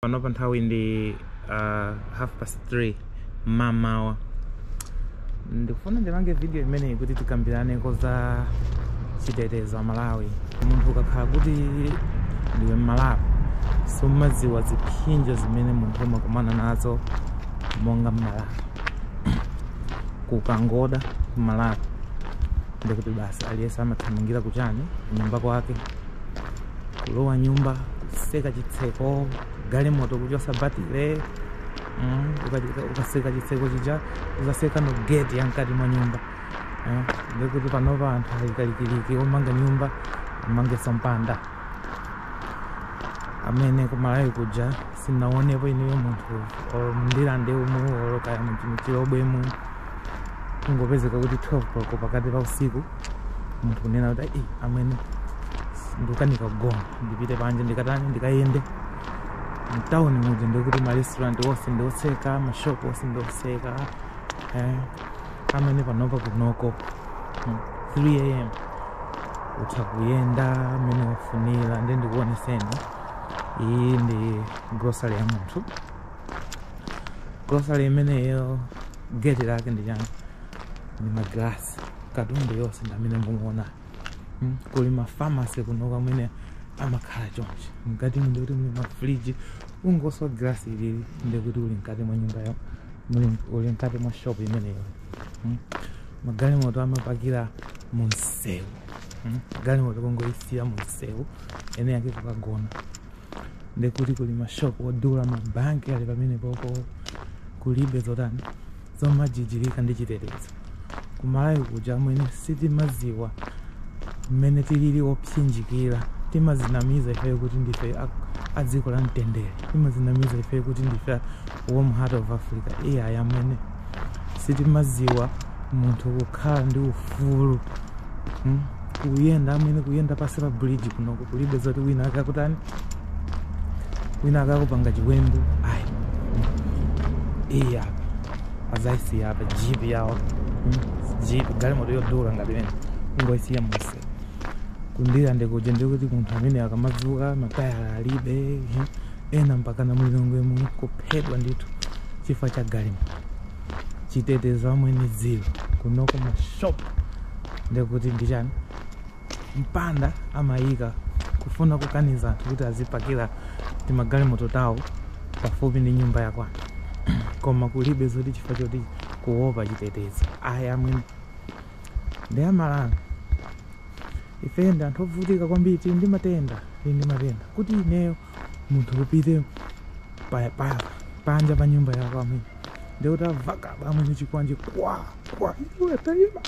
panopa nthawi ndi uh, half past 3 mamawa ndikufuna ndipange video imeneyi kuti tikambiraneko za chitetezo amalawi munthu ukakhala kuti ndiwe mmalawi sumadziwa zipsinjo zimene munthu umakumana nazo monga mmalawi kukangoda mmalawi ndekuti basi aliyense amathamangira kuchani nyumba kwake kulowa nyumba kuseka chitseko galimoto kuchosa batile mm, ukaseka chitseko chija uzaseka no gate yamkati mwa nyumba eh, ndekuti panopa anthu alikalikiliki omanga nyumba amangenso mpanda amene kumalawi kuja sinaonepo ineyo munthu or mndilande umu or kaya mchilobwemu kungopezeka kuti 12 koloko pakati pa usiku munthu kunena kuti "Ei, amwene ndikukanika kugona ndipite panje ndikatani ndikayende mtawuni muja ndikuti marestaurant onse ndiotseka, mashop onse ndiotseka eh, amwene panopa kunoko mm, 3 am utha kuyenda mmene wafunira nde ndikuoneseni iyi ndi grocery ya munthu grocery imeneyo gate lake ndi chani ndi magrasi katundu yonse ndamene mumuona Mm, kuli mafamasi kunoko amene amakhala chonchi mkati ndi kuti muli mafriji ungoswa grasi ilili ndi kuti uli mkati mwa nyumba ya muli- uli mkati mwa shop imeneyo Mm. magalimoto amapakira mu msewu Mm. galimoto kungoisiya mu msewu ene yake kukagona ndekuti kuli mashopu odula mabanki ali pamenepopo kulibe zotani zomajijirika ndi chitetezo, kumalawi kuja amwene sitimaziwa mmene tilili opsinjikira timazinamiza ifeyo kuti ndife a- a dziko la mtendere timazinamiza ifeyo kuti ndife a- warm heart of africa ai amwene sitimaziwa munthu kukhala ndi ufulu hmm? kuyenda amwene kuyenda pasi pa bridge kunoko kulibe zoti wina akakutani wina akakupanga chiwembu ayi iyi apa azaisiya apa jipi yawo hmm? jipi galimoto yodula ngati imene kungoisiya museu kundirande kuja ndekuti munthu amwene akamadzuka matayala alibe hmm? ena mpakana mu lilongwe muno kuphedwa ndithu chifukwa cha galimoto chitetezo amwene zilo kunoko mashopu ndekuti ndichani mpanda amayika kufuna kukaniza anthu kuti azipakira timagalimoto tawo pafupi ndi nyumba yakwawo koma kulibe zoti chifukwa choti kuopa chitetezo ayi amwene ndi amalawi ife ndi anthu ovutika kwambiri tili ndi matenda tili ndi matenda kuti ineyo munthu upite pa- pa- panja pa nyumba yako amwene ndikuti avakabo amwene chikwanje kwa kwa iwe taima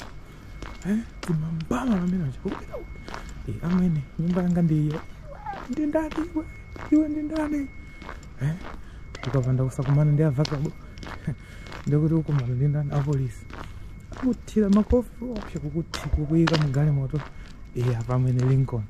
eh timambama amwene achikupita eh amwene nyumba yanga ndiyo ndi ndani iwe iwe ndi ndani eh ukapanda kusakumana ndi avakabo ndekuti ukumana ndi ndani apolisi akuthire makofi opsa kukuthi kukuyika mugalimoto eh apa amwene lincoln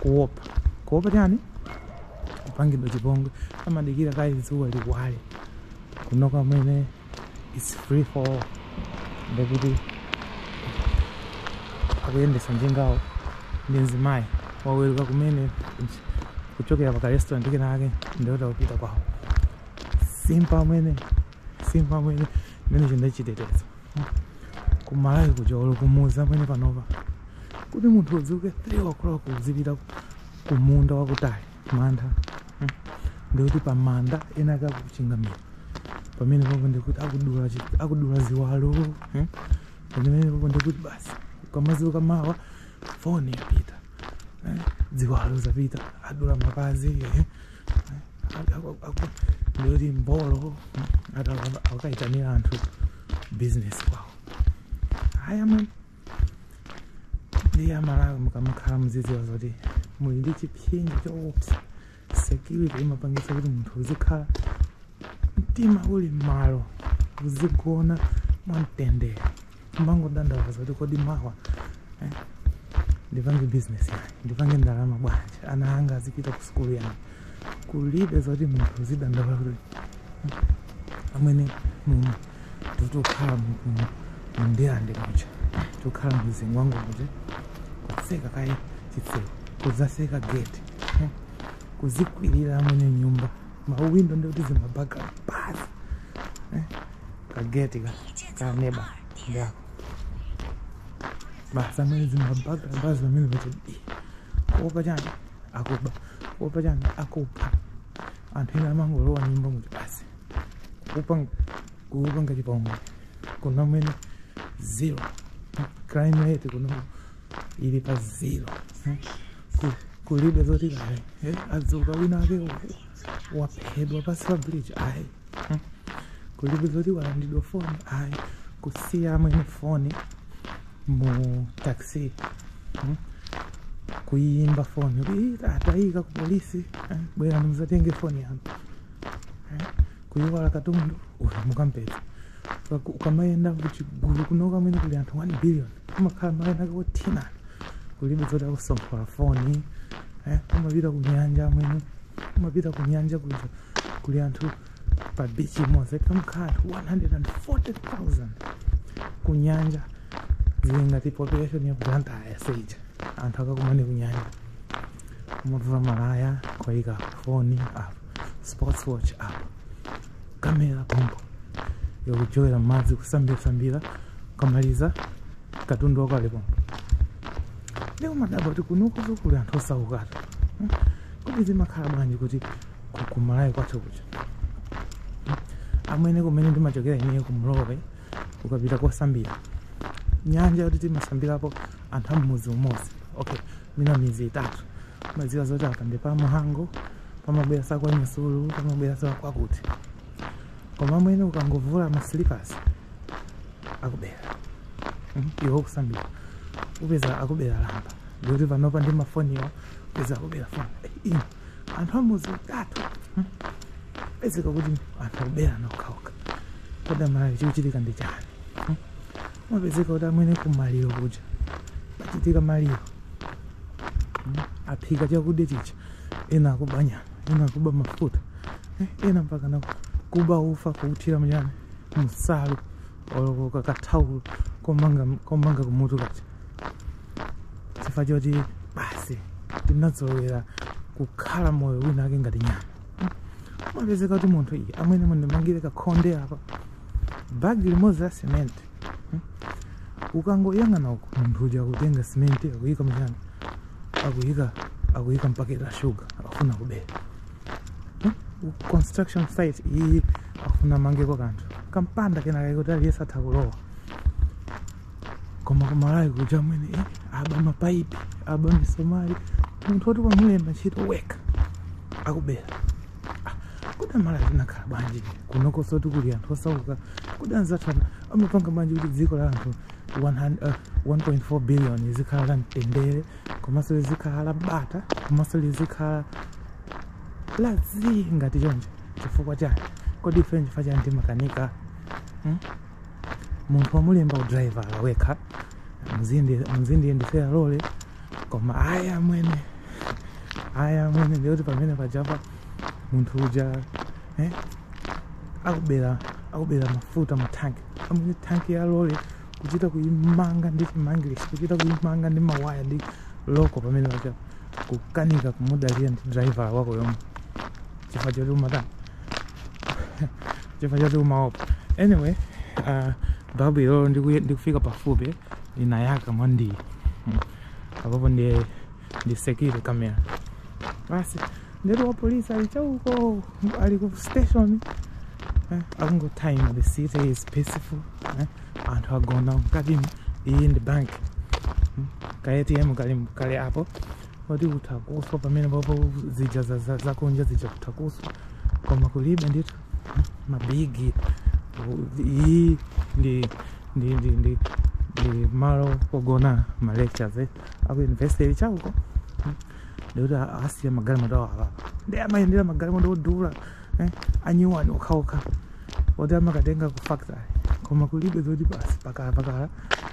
kuopa kuopa chani kupangidwa chipongwe amadikira kaye dzuwa liwale kunoko amwene its free for all ndekuti akuyendesa njingawo ndi mzimayi waweruka kumene kuchokera pa karestaurant kena ake ndiye akupita kwawo simple amwene simple amwene mmene chilili chitetezo kumalawi kuja olo kumudzi amwene panopa kuti munthu udzuke 3 o'clock uzipita kumunda wakutali manda hmm. ndikuti pamanda ena ake akuchingamira pamene papo ndikuti akudula ziwalo hmm. pamene papo ndikuti basi ukamadzuka mawa foni yapita eh, ziwalo zapita adula mapazi eh. ndiyeti mbolo akaitanira anthu business kwawo haya man ndiye amalawi mukamakhala muzidziwa zoti muli ndi chipsinjo choopsa security imapangitsa kuti munthu uzikhala mtima uli mmalo uzigona mwamtendere Amangodandaula zoti kodi mawa eh, ndipange business yani, ndipange ndalama bwanji, ana anga azipita ku sukulu yani. Kulibe zoti munthu uzidandaula kuti amwene muno tikukhala mu Ndirande muja tikukhala mu Zingwangwa muja kutseka kaye chitseko kuzatseka geti eh, kuzikwirira amwene nyumba mawindo ndi kuti zimaburglar basi eh? kageti ka ka neba ndi ako basi amwene zimaburglar basi pamene pacha kuopa chani akuba kuopa chani akupha anthu ena amangolowa nyumbamo eti basi kupanga kupanga chipongwe kuno amwene zero crime rate kuno ili pa zero eh? kulibe zoti kaya eh, adzuka wina ake waphedwa pansi pa bridge ayi hmm. kulibe zoti walandidwa foni ayi kusiya amwene foni mu taxi hmm. kuyimba foni atayika ku polisi eh, bwera muzatenge foni yanu kuiwala katundu uyu mukampeza Uka- ukamayenda kuchigulu kunoko amwene kuli anthu 1 billion umakhala malo enaake wothina kulibe zoti akusomphola foni eh, umapita ku nyanja amwene umapita ku nyanja kuja kuli anthu pa bichi imodzi pamakhala anthu 140000 ku nyanja zili ngati population ya blantyre seija anthu akakumane ku nyanja kumavula malaya kuyika foni apo sports watch apa kamera pompo wakujowera madzi kusambira-sambira ukamaliza katundu wako ali pompo ndi kumadabwa kuti kunoku nsokuli anthu osaukatu Hmm? kodi zimakhala bwanji kuti ku- ku malawi kwathu kuja amwene kumene ndimachokera ineyo ku mlowe ukapita kosambira nyanja yoti timasambirapo anthu am'mudzi umodzi okay mwina midzi itatu mumadziwa zoti apa ndi pa mhango pamabwera sakwanyasulu pamabwera sakwakuti koma amwene ukangovula masilipasi akubera mm, iwe ukusambira upeza akubera lamba ndikuti panopa ndi mafoniwo upeza akubera foni Eh, ino anthu amidzi itatu mm, pezeka kuti anthu akuberana okhaokha kodi amalawi chikuchitika ndi chani umapezeka kuti amwene kumaliro kuja pachitika maliro mm, aphika chakudya chija ena akuba nyama ena akuba mafuta eh, ena mpaka na kuba ufa kuuthira mchani munsalu olo kaka kathaulo komanga komanga kumutu kaja chifukwa choti basi tinazolowera kukhala moyo wina ake ngati nyama Mm. umapezeka kuti munthu iyi amwene mundimangire kakhonde apa bagi limodzi la cement hmm? ukangoyang'ana uko munthu uja akutenga cement akuyika mchani akuyika akuyika mpaketi la shuga akufuna kubera hmm? U- construction site iyi akufuna mangeko kanthu kampanda kena kaikoti aliyense atha kulowa koma kumalawi kuja amwene eh, aba mapaipi aba misomali munthu woti wamulemba ntchito wekha akubera kodi amalawi tinakhala bwanji kunokonsotu kuli anthu osauka kodi anzathu ana- amapanga bwanji kuti dziko la anthu 100, uh, 1.4 billion lizikhala la mtendere komanso lizikhala la bata komanso lizikhala la zii ngati choncho chifukwa chani kodi ife nchifukwa chani timakanika hmm? munthu wamulemba udraivala wekha muzindiyendetsera lole koma ayi amwene ayi amwene ndiyoti pamene pajapa munthu uja eh, akubera akubera mafuta mu tanki amwene tanki ya lole kuchita kuimanga ndi chimangilishi kuchita kuimanga ndi mawaya ndi loko pamene pajapa kukanika kumudalira ndi draivala wako yomwe chifukwa choti umatani chifukwa choti umaopa anyway uh, babu ilolo ndiku- ndikufika pafupi linayaka mwandiyi Mm. apapo ndi ndi security camera basi ndetu wa polisi ali chauko ali ku station eh, akungothaima the city is peaceful eh, anthu agona mkatimo iyi ndi bank Mm. ka atm kali mkati apo poti kutha kuswa pamene popo zija za- za- zakunja zija kutha kuswa koma kulibe ndithu mabigi u- iyi ndi ndi ndi ndi ndi malo ogona ma lectures eh, aku university ili chauko ndikuti asiya magalimoto awo awa ndi amayendera magalimoto odula eh, anyuwani okhaokha oti akatenga ku factory koma kulibe zoti basi pakala pakala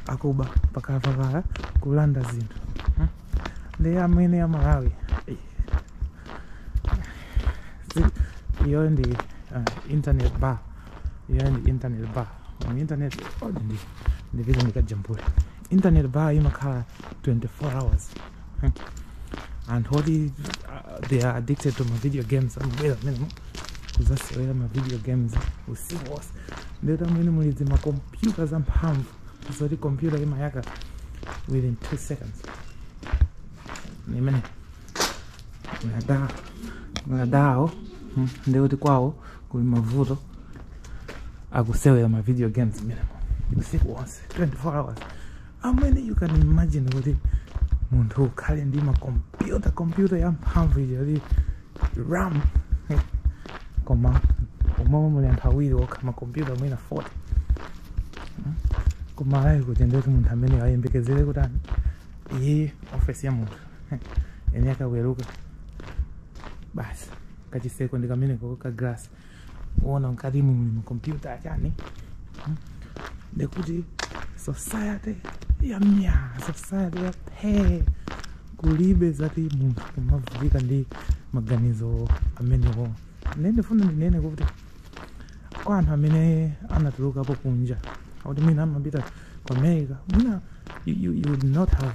akuba pakala pakala kulanda zinthu ndi amwene ya malawi Ei. Si- iyo ndi uh, internet bar iyo ndi internet bar mu internet oh, ndi ndipite ndikajambule internet bar imakhala 24 hours Hmm. anthu oti uh, they are addicted to ma video games amabwera mmenemo kuzasewera ma video games usiku wonse ndetu amwene muli zimakompyuta zamphamvu zoti kompyuta imayaka within 2 seconds imene madawo madawo mm, ndi kuti kwawo kuli mavuto akusewela ma video games mmenemo usiku wonse 24 hours amwene you can imagine kuti munthu ukhale ndi makompyuta kompyuta yamphamvu ija kuti ram koma umomo muli anthu awiri okha makompyuta mwina 40 koma alayi kuti ndoti munthu amene ayembekezere kuti ani iyi ofesi ya munthu yense akaweruka basi kachiseko ndi kameneko ka glass kuona mkatimu muli makompyuta achani mm. ndikuti society ya mya society ya phe kulibe zoti munthu kumavutika ndi maganizo amenewo nde ndifuna ndinene kuti kwa anthu amene anatulukapo kunja kuti mwina amapita ku america mwina you, you, you would not have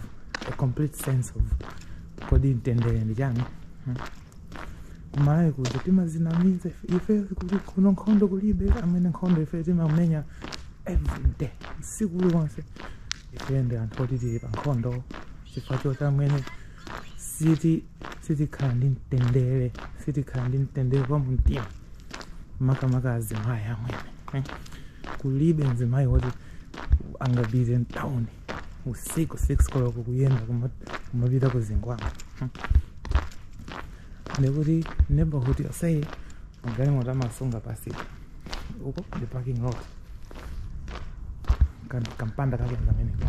a complete sense of kodi mtendere ndi chani Hmm. kumalawi kuja timadzinamiza ife- ife kuli kuno nkhondo kulibe amwene nkhondo ife timamenya everyday usiku uliwonse ife ndi anthu oti tili pa nkhondo chifukwa choti amwene siti sitikhala ndi mtendere sitikhala ndi mtendere wa mumtima makamaka azimayi amwene eh? kulibe mzimayi woti angapite mtawuni usiku 6 koloko kuyenda kuma- kumapita ku zingwangwa ndikuti neighborhood yoseyi magalimoto amasunga basi ka uko ndi parking lot Kan- kampanda kakeni kameneka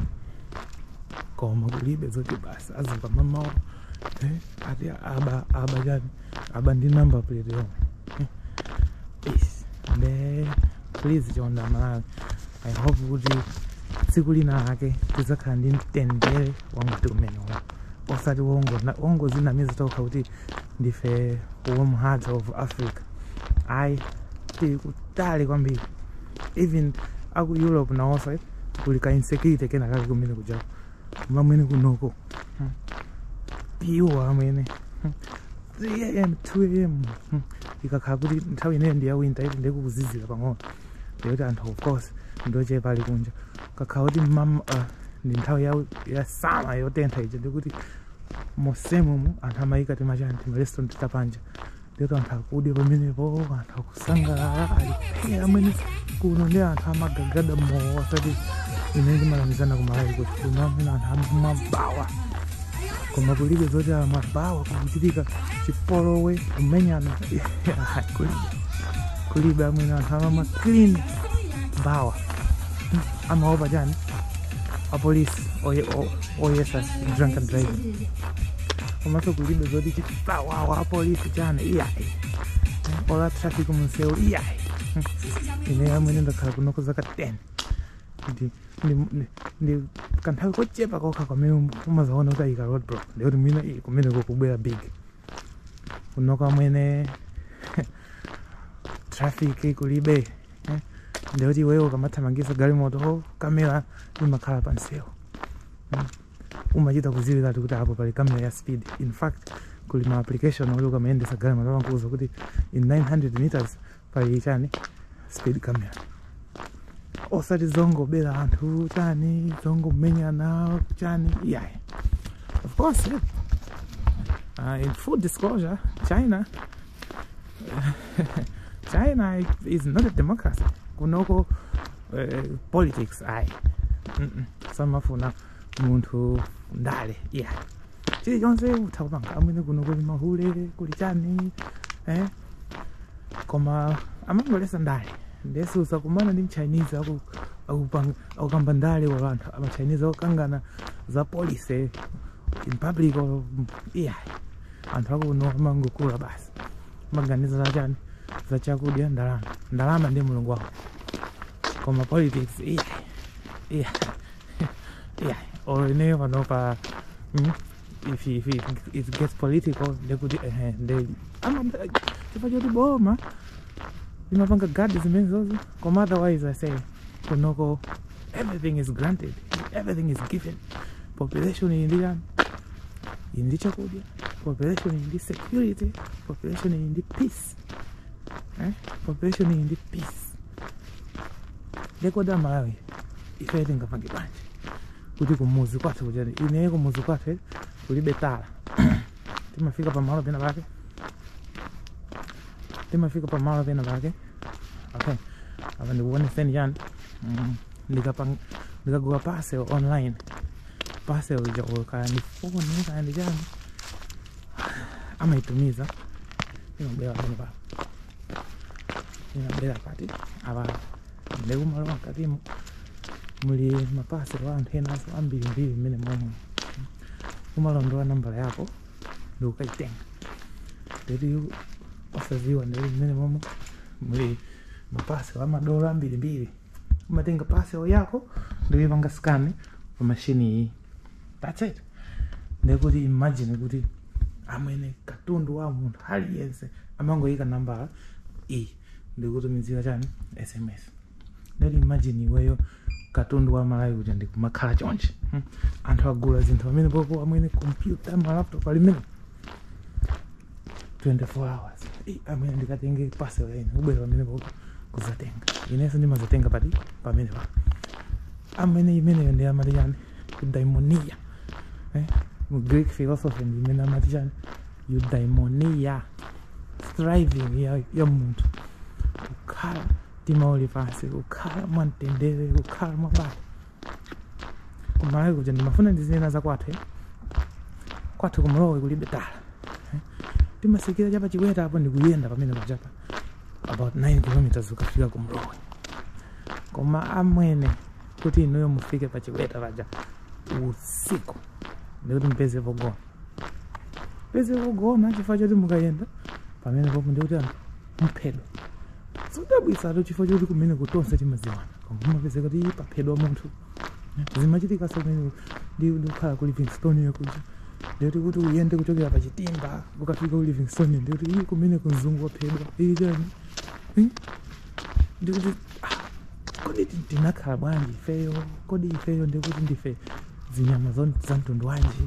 koma kulibe zoti basi azipamamawa Eh, ati aba aba chani aba ndi number plate yomwe Eh, nde please chonda malawi i hope kuti tsiku lina ake tidzakhala ndi mtendere wa mtundu umenewo osati ongona- ongozinamiza tokha kuti ndife warm heart of africa ayi tili kutali kwambiri even aku europe nawonso eh, kuli ka insecurity kenakake kumene kujako amwene kunoko iwo amwene 3 am 2 am ikakhala kuti nthawi imeneyo ndi ya winter eti ndiye kukuzizira pang'ono ndikuti anthu of course ndochepa ali kunja ikakhala kuti mmam uh, ndi nthawi ya, ya summer yotentha ija ndikuti monsemo anthu amayika timachani timarestaurant tapanja Ndipo anthu akudya pamenepo, anthu akusangalala, ali phee amwene kuno ndi anthu amagagada mowa osati zimene timanamizana ku Malawi kuti kuno amwene anthu amamwa bawa. Koma kulibe zoti amwa bawa kukuchitika chipolowe kumenyana kulibe. Kulibe amwene anthu amamwa clean bawa. Amaopa chani? Apolisi oye- o- oyesa drunk driving. komanso kulibe zoti chipwirikiti apolisi chani iyayi olo traffic mumsewu iyayi ine amwene ndakhala kuno kwa zaka 10 ndi ndi- ndi- ndi kanthawi kochepa kokha kamene umazaona kuti ayika road block ndikuti mwina iyi kumene kukubwera big kunoko amwene traffic kulibe eh, ndikuti iweyo ukamathamangisa galimoto ho kamera imakhala pamsewu umachita kuziwiratu kuti apo pali kamera ya speed in fact kuli ma application oti ukamayendesa galimoto amakuuza kuti in 900 meters pali chani speed camera osati zongobera anthu chani zongomenyana chani iyayi of course uh, in full disclosure china china is not a democracy kunoko uh, eh, politics ayi mm -mm. samafuna munthu ndale iya yeah. chilichonse utha kupanga amwene kunoko kuli mahule kuli chani eh? koma amangoletsa ndale nde suzakumana ndi mchinese aku akukamba ndale kapena anthu amachinese akukangana za policy in public or yeah anthu akuno amangogula basi maganiza za chani za chakudya ndalama ndalama ndi mulungu wawo koma politics ayi ayi ayi or ineyo pano pa mm, if, if, if it gets political ndekuti ehe nde ama chifukwa choti boma limapanga gadi zimenezozo koma otherwise i say kunoko everything is granted everything is given population ili ndi chani ili ndi chakudya population ili ndi security population ili ndi peace eh? population ili ndi peace nde kodi amalawi ife tingapange bwanji kuti kumuzi kwathu kujaku ineye kumuzi kwathu kulibe tara timafika pamalo pena pake timafika pa malo pena pake okay apa ndikuoneseni chani Mm, ndikapang- ndikagula parcel online parcel uja kaya ndi foni kaya ndi chani amaitumiza imabwera panopa imabwera pati apa ndikumalowa mkatimo muli mapaselo a anthu enanso ambirimbiri mmenemomo umalondola nambala yako ndikukayitenga ndetu iwe osaziwa ndekuti mmenemomo muli mapaselo a madola ambirimbiri umatenga paselo yako ndikuyipanga scan pa mashini iyi that's it ndekuti imagine kuti amwene katundu wa munthu aliyense amangoyika nambala iyi ndikutumizira chani sms nde imagine iweyo katundu wa amalawi kuti nkumakhala choncho hmm. anthu agula zinthu pamenepopo amwene kompyuta malaptop ali mmenemo 24 hours amwene ndikatenge paselo ine ubwera pamenepopo kuzatenga inenso ndimazatenga pati pamenepa amwene imeneyo ndi amati chani eudaimonia eh? greek philosophy ndi imene amati chani eudaimonia striving ya, ya munthu kukhala mtima uli pansi kukhala mwamtendere kukhala mwabata kumlowe kuja ndimafuna ndizinena za kwathu eh. kwathu kumlowe kulibe tara eh. timatsikira cha pa chiweta apo ndikuyenda pamenepajapa about 9 kilometers ukafika kumlowe koma amwene kuti inuyo mufike pa chiweta paja usiku ndekuti mupeze pogona mupeze pogona chifukwa choti mukayenda pamenepopo ndekuti anthu muphedwa zodabwitsatu chifukwa choti kumeneko tonse timadziwana koma kumapezeka kuti paphedwa munthu zimachitikanso kumene ndi- ndikukhala ku livingstonia kuja ndekuti kuti uyende kuchokera pa chitimba ukafika ku livingstonia ndekuti iii kumeneko mzungu waphedwa iii chani Hmm? ndekuti ah, kodi ti- tinakhala bwanji ifeyo kodi ifeyo ndikuti ndife zinyama zon- za mtundu wanji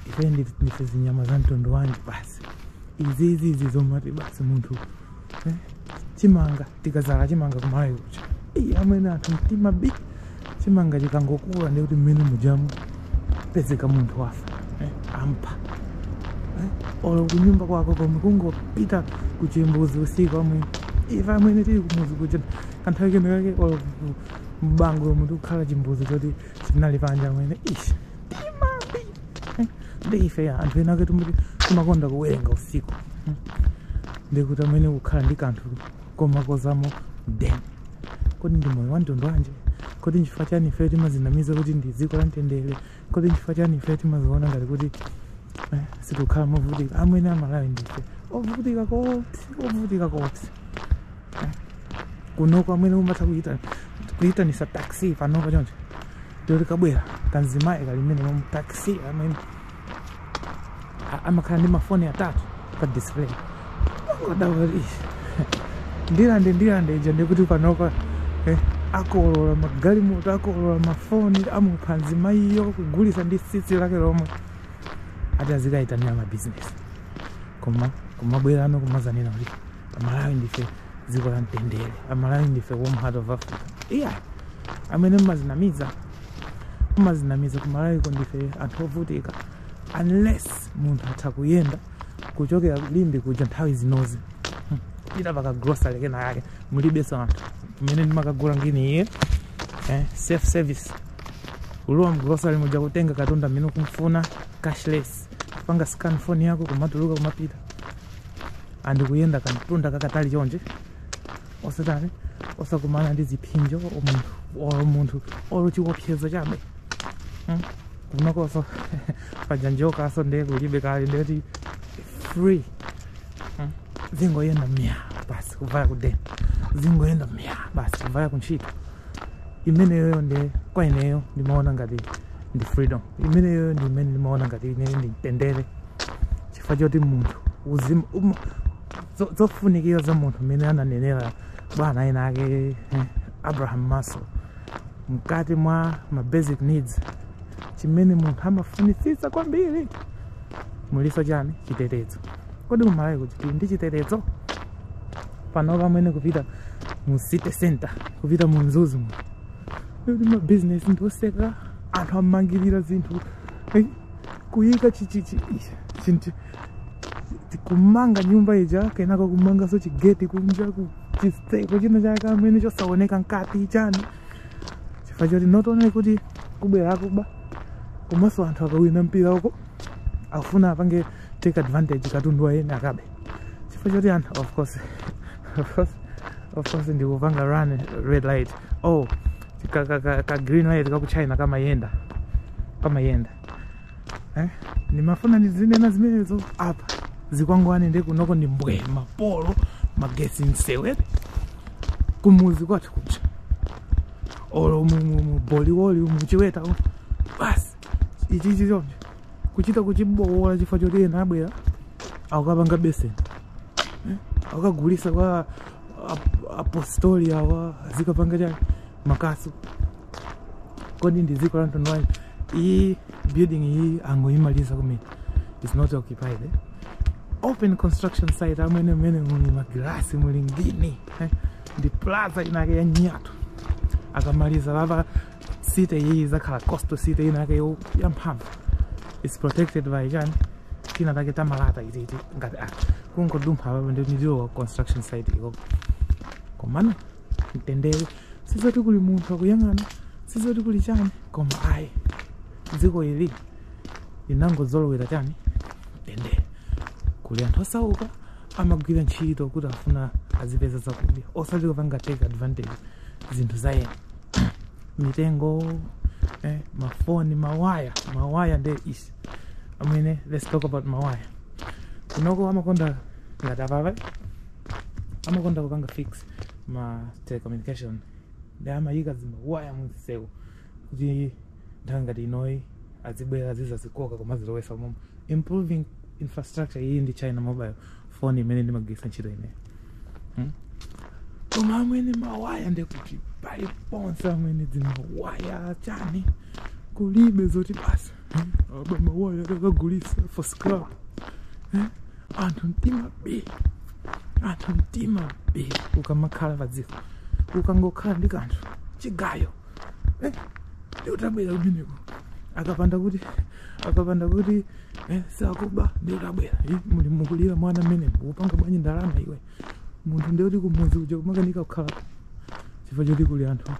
ife ndife zinyama za mtundu wanji basi izi izi izi zomati basi munthu eh? chimanga tikadzala chimanga kumalawi kuja Ii, amwene anthu mtima bii chimanga chikangokula ndi kuti mmunda mujamu pezeka munthu wafa eh? amupha eh? olo kunyumba kwako komwe kungopita kuchimbuzi usiku amwene ife amene tili kumudzi kuja kanthawi kena kake olo ku- mbango yomwe tikukhala chimbuzi choti chinali panja amwene ishi ndi ife ya anthu enake timati timakonda kuwerenga usiku Hmm. ndikuti amwene kukhala ndi kanthu komakozamo den kodi ndi moyo wamtundu wanji kodi nchifukwa chani ife timazinamiza kuti ndi dziko la mtendere kodi nchifukwa chani ife timaziona ngati kuti eh, sitikukhala movutika amwene amalawi ndife ovutika kopsi ovutika kopsi kunoko amwene umatha kuitana kuitanisa taxi panopa choncho yoti kabwera kanzimayi kalimene mu taxi amwene a- amakhala ndi mafoni atatu pa display oda ali ndilande ndilande ija ndikuti panopa eh, akolola magalimoto akolola mafoni amupha nzimayiyo kugulitsa ndi tsitsi lake lomwe ati azikaitanira mabizinesi koma kumabwerano kumazinena kuti amalawi ndife dziko la mtendere amalawi ndife warm heart of africa iya amwene mmazinamiza mmazinamiza kumalawiko ndife anthu ovutika unless munthu atha kuyenda kuchokera limbe kuja nthawi zinozi Hmm. pita pakagrocery kena yake mulibeso anthu mmene ndimakagula ngini iye eh, self service ulowa mgrocery muja kutenga katundu amene ukufuna cashless panga scan phone yako kumatuluka kumapita and kuyenda kamtunda kakatali chonje osatani osakumana ndi zipsinjo munthu or munthu or chiwopsezo chabe Hmm? kunokoso kanjokaso nde kulibe kuli ndithu free Hmm? zingoyenda mya basi kuvaya kudeni zingoyenda mya basi kuvaya kuntchito imeneyoyo nde kwa ineyo ndimaona ngati ndi freedom imeneyoyo ndi imene ndimaona ngati ine ndi mtendere chifukwa choti munthu uzimu um, zo- zofunikira za munthu mmene ananenera bwana ena ake eh, abraham maslow mkati mwa ma basic needs chimene munthu amafunitsitsa kwambiri muliso chani chitetezo kodi kumalawiko tili ndi chitetezo panopa amwene kupita mu city center kupita mu mzuzu mu kuti mabizinesi ndiotseka anthu amangirira zinthu eh, kuyika chichichi chinti tikumanga nyumba ija kenako kumanganso chigeti kunja ku chiseko china chake amene chosaoneka mkati chani chifukwa choti not only kuti kubwera akuba komanso anthu akawina mpira uko akufuna apange take advantage katundu wa eni akabe chifukwa choti anthu of course ndikupanga run red light oh ka, ka, ka, ka green light ka ku china kamayenda kamayenda eh? ndimafuna ndizinena zimenezo apa zikwangwani nde kunoko ndi mbwe mapolo magesi msewere kumuzi kwathu kuja olo mu- mu- mu boliwoli umu chiweta umu. basi ichichi choncho kuchita kuchiboola chifukwa choti ena abwera akapanga beseni akagulisa kwa Ap- apostoli awa azikapanga chani makasu kodi ndi dziko la mtundu wanji ili building iyi angoyimaliza kumene is not occupied eh? open construction site amwene mmene muli magilasi muli ngini eh? ndi plaza inake ya nyatu akamaliza lava city iyi izakhala coastal city inake yo- yamphamvu its protected by chani tina take tamalata titi ngati a kungodumpha apapo ndiwo construction site iko komano mtendere sizoti kuli munthu akuyang'ana sizoti kuli chani koma ayi dziko ili linangozolowera chani mtendere kuli anthu osauka amagwira ntchito kuti afuna azipeza zakudya osati kupanga take advantage zinthu za ena mitengo eh, mafoni mawaya mawaya nde izi amwene let's talk about mawaya kunoko amakonda ngati apapa amakonda kupanga fix ma telecommunication nde amayika zimawaya muziseko kuti nthawi ngati inoyi azibwera zizazikoka kumazilowesa umomo improving infrastructure iyi ndi China mobile phone imene ndimagwiritsa ntchito ineyo hmm? koma amwene mawaya ndekuti paliponse amwene zimawaya chani kulibe zoti basa hmm? aba mawaya akagulisa for scrap hmm? anthu mtima bii anthu mtima bii ukamakhala padziko ukangokhala ndi kanthu chigayo eh, ndiwe utabwera kumeneko akapanda kuti akapanda kuti eh, sakuba ndiutabwera eh, muli mukulira mwana mmene ukupanga bwanji ndalama iwe munthu ndiye kuti kumudzi kuja kumakanika kukhala chifukwa choti kuli anthu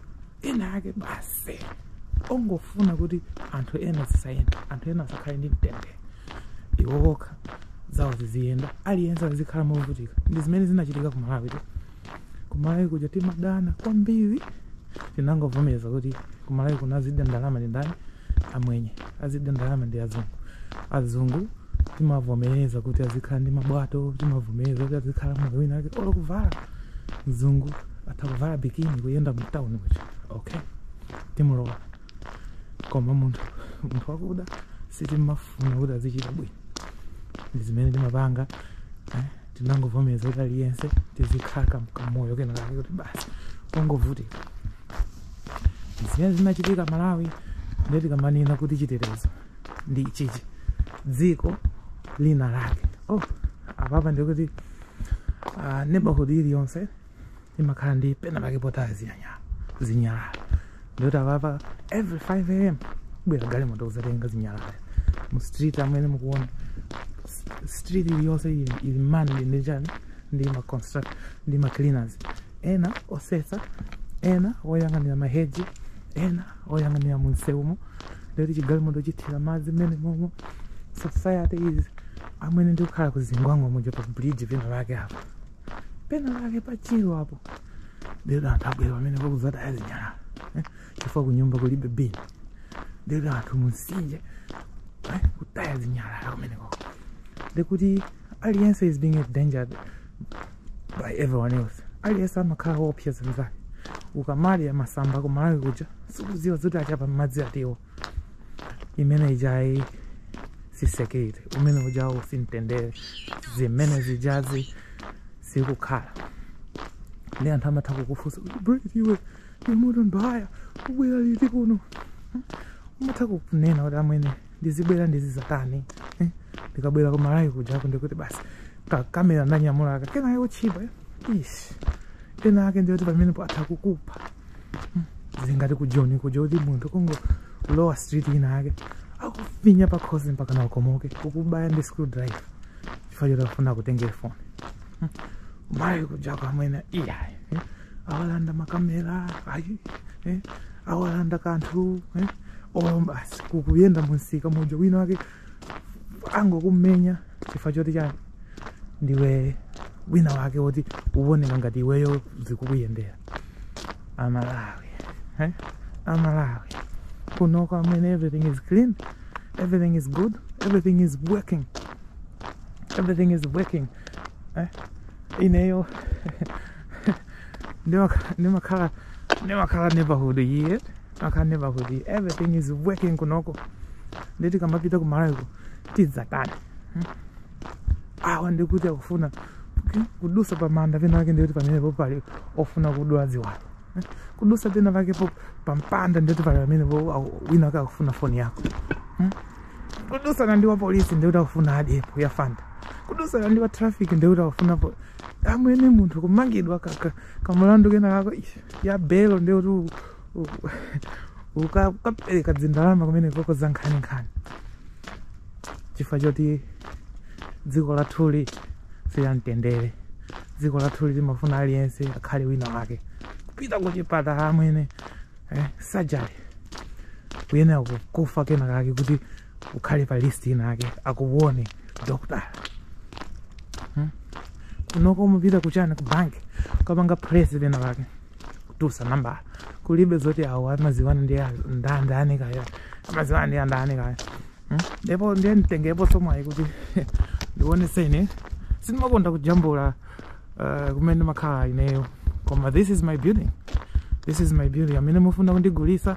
ena ake basi ongofuna kuti anthu ena zisayenda anthu ena asakhale ndi mtendere iwo okha zawo ziziyenda aliyense azikhala movutika ndi zimene zinachitika ku malawi tu kumalawi kuja timadana kwambiri tinangovomereza kuti kumalawi kuno azidya ndalama ndi ndani amwenye azidya ndalama ndi azungu azungu timavomereza kuti azikhala ndi mabwato timavomereza kuti azikhala moyo wina wake olo kuvala mzungu atha kuvala bikini kuyenda mtawuni kuja okay timulola koma munthu munthu wakuda sitimafuna kuti azichita bwino ndi zimene timapanga eh? tinangovomereza kuti aliyense tizikhala kam- kamoyo kena kake kuti basi kongovutika zimene zinachitika malawi ndiye tikamanena kuti chitetezo ndi ichichi dziko lina lake oh, apapa ndikuti uh, neighborhood iliyonse imakhala ndi pena pake potaya zinyanyala zinyalala ndikuti apapa every 5 am ibwera galimoto kuzatenga zinyalala mu street amene mukuona S- street iliyonse ili ili manned ndi chani ndi ma construct ndi ma cleaners ena osesa ena oyang'anira maheji ena oyang'anira munsewumo ndikuti chigalimoto chithira madzi mmene momwe society is amwene ndikukhala kuzingwangwa muja pa bridge pena pake apa pena pake pachiro apo ndiyoti anthu abwera pamenepa kuzataya zinyalala eh, chifukwa kunyumba kulibe bin ndiyoti anthu munsinje eh, kutaya zinyalala kumeneko ndikuti aliyense is being endangered by everyone else aliyense amakhala woopseza mzake ukamadya masamba kumalawi kuja sukuziwa zoti achapa mmadzi atiwo imene ijayi si security umene ujawu simtendere zimene zijazi sikukhala ndi anthu amatha kukufunsa kuti brit iwe imutu mbaya ubwera liti kuno umatha kunena kuti amwene ndizibwera ndizizatani eh? ndikabwera kumalawi kujako ndikuti basi kakamera ndanyamulaka kenake kotchipa ish ena ake ndiyoti pamenepo atha kukupha zingati ku joni kuja kuti munthu kungolowa street wina wake akufinya pa khosi mpakana ukomoke kukubaya ndi screwdriver chifukwa choti akufuna kutengera foni malawi kujako amwene iyayi eh? awalanda makamera ayi eh? awalanda kanthu eh? olo basi ukuyenda munsika muja wina wake angokumenya chifukwa choti chani ndiwe wina wake woti ukuoneka ngati iweyo zikukuyendera amalawi eh? amalawi kunoko amwene everything is clean everything is good everything is working everything is working eh? ineyo ndimakhala ndimakhala neighborhood yet akhala neva kuti everything is working kunoko nde tikamapita kumalawiko tidzatani hmm? awa ndikuti akufuna kudusa pamanda pena pake ndikuti pamenepo pali ofuna kudula ziwalo hmm? kudusa pena pakepo pampanda ndikuti pali pamenepo wina wake akufuna foni yako hmm? kudusa nandiwa polisi ndikuti akufuna adyepo ya fanta kudusa nandiwa traffic ndikuti akufuna amwene munthu kumangidwa kamlandu kena kako ya belo ndikuti uka- ukapereka dzindalama kumene koko za nkhaninkhani chifukwa choti dziko lathuli silamtendere dziko lathuli timafuna aliyense akhale wina wake pita kuchipatala amwene eh, surgery kuyenera kufa kena kake kuti ukhale pa list wina wake akuone doctor hmm? kunoko umapita kuchani ku bank ukapanga press pena pake kutusa nambala kulibe zoti awo amaziwana ndi a- nda- ndani kaya amaziwana ndi andani kaya Hmm? ndipo ndiye nditengepo somwayi kuti ndionese ine sindimakonda kujambula uh, kumene ndimakhala ineyo koma this is my building this is my building amene mufuna kundigulisa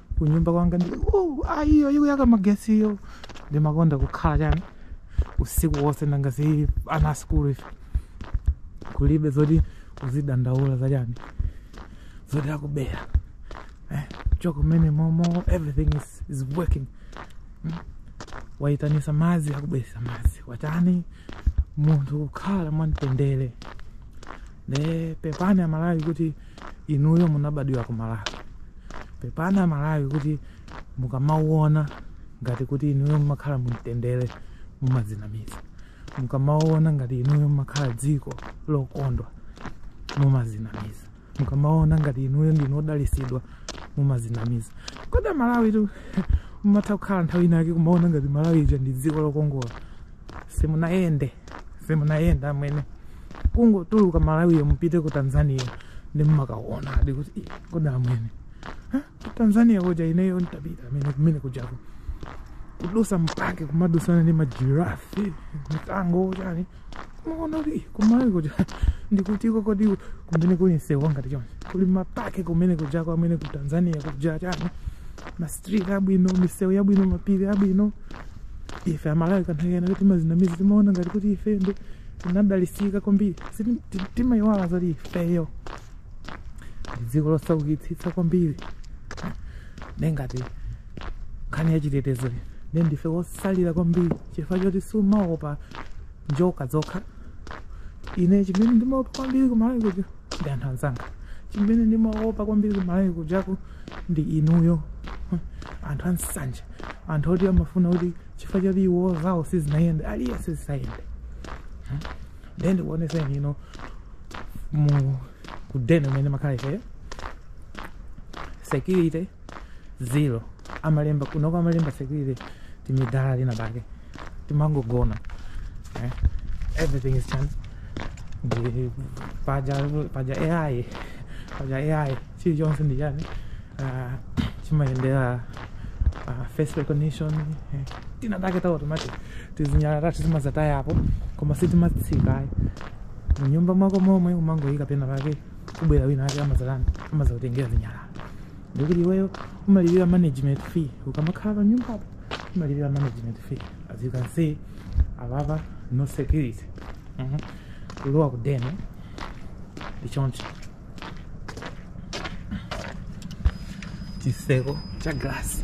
kunyumba kwanga ndi uh, iyoyo ikuyaka magesiyo ndimakonda kukhala chani usiku wonse nanga si ana a sikulu ife kulibe zoti uzidandaula za chani zoti akubera eh, chokani mmene momo everything is, is working mm. waitanisa madzi akubweresa madzi watani munthu kukhala mwamtendere ne pepani amalawi kuti inuyo munabadwira ku malawi pepani amalawi kuti mukamaona ngati kuti inuyo mumakhala mumtendere mumadzinamiza mukamaona ngati inuyo mumakhala dziko lokondwa mumadzinamiza mukamaona ngati inuyo ndinu odalisidwa mumadzinamiza kodi amalawitu mumatha kukhala nthawi inake kumaona ngati malawi ija ndi dziko lokongola simunayende simunayende amwene kungotuluka malawiyo mupite ku tanzania ndi mmakaonadi kuti "Ih, kodi amwene Ha? Ku tanzania kuja ineyo ntapita amwene kumene kujako kudusa mu park kumadusana ndi majirafi mikango chani umaona kuti "Ih, kumalawi kuja ndikutiko kodi kumene kuli msewu wangati chonchi kuli ma park kumene kujako amwene ku tanzania kuja chani ma street abwino misewu yabwino mapiri abwino ife amalawi ka nthawi kena timazinamiza timaona ngati kuti ife ndi tinadalisika kwambiri Siti- ti- timayiwala zoti ifeyo ndi dziko losaukitsitsa kwambiri nde ngati nkhani ya chitetezo ne ndife wotsalira kwambiri chifukwa choti sumaopa njoka zokha ine chimene ndimaopa kwambiri kumalawi kuja ndi anthu anzanga chimene ndimaopa kwambiri kumalawi kujaku ndi inuyo anthu ansanje anthu oti amafuna kuti chifukwa choti iwo zawo sizinayende aliyense zisayende ndiye ndikuoneseni ino mu kudeni umene makhala ifeyo security zero amalemba kunoko amalemba security timadala lina pake timangogona eh? everything is chance ndi paja paja ai paja ai chilichonse ndi chani uh, chimayendera uh, face recognition eh? tinatake ta automatic tizinyala tatu timazataya apo koma sitimatsika ayi munyumba mwako momwe umangoyika pena pake kubwera wina ake amazatani amazakutengera zinyala ndi kuti iweyo umalipira management fee ukamakhala pa nyumbapo umalipira management fee as you can see apapa no security Mhm. kulowa ku deni ndi choncho chiseko cha glasi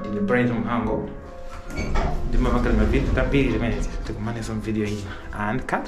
Ndine Bright Mhango. Ndimapanga mavidiyo tambiri zimenezi. Tikumanenso mvidiyo ina. And cut.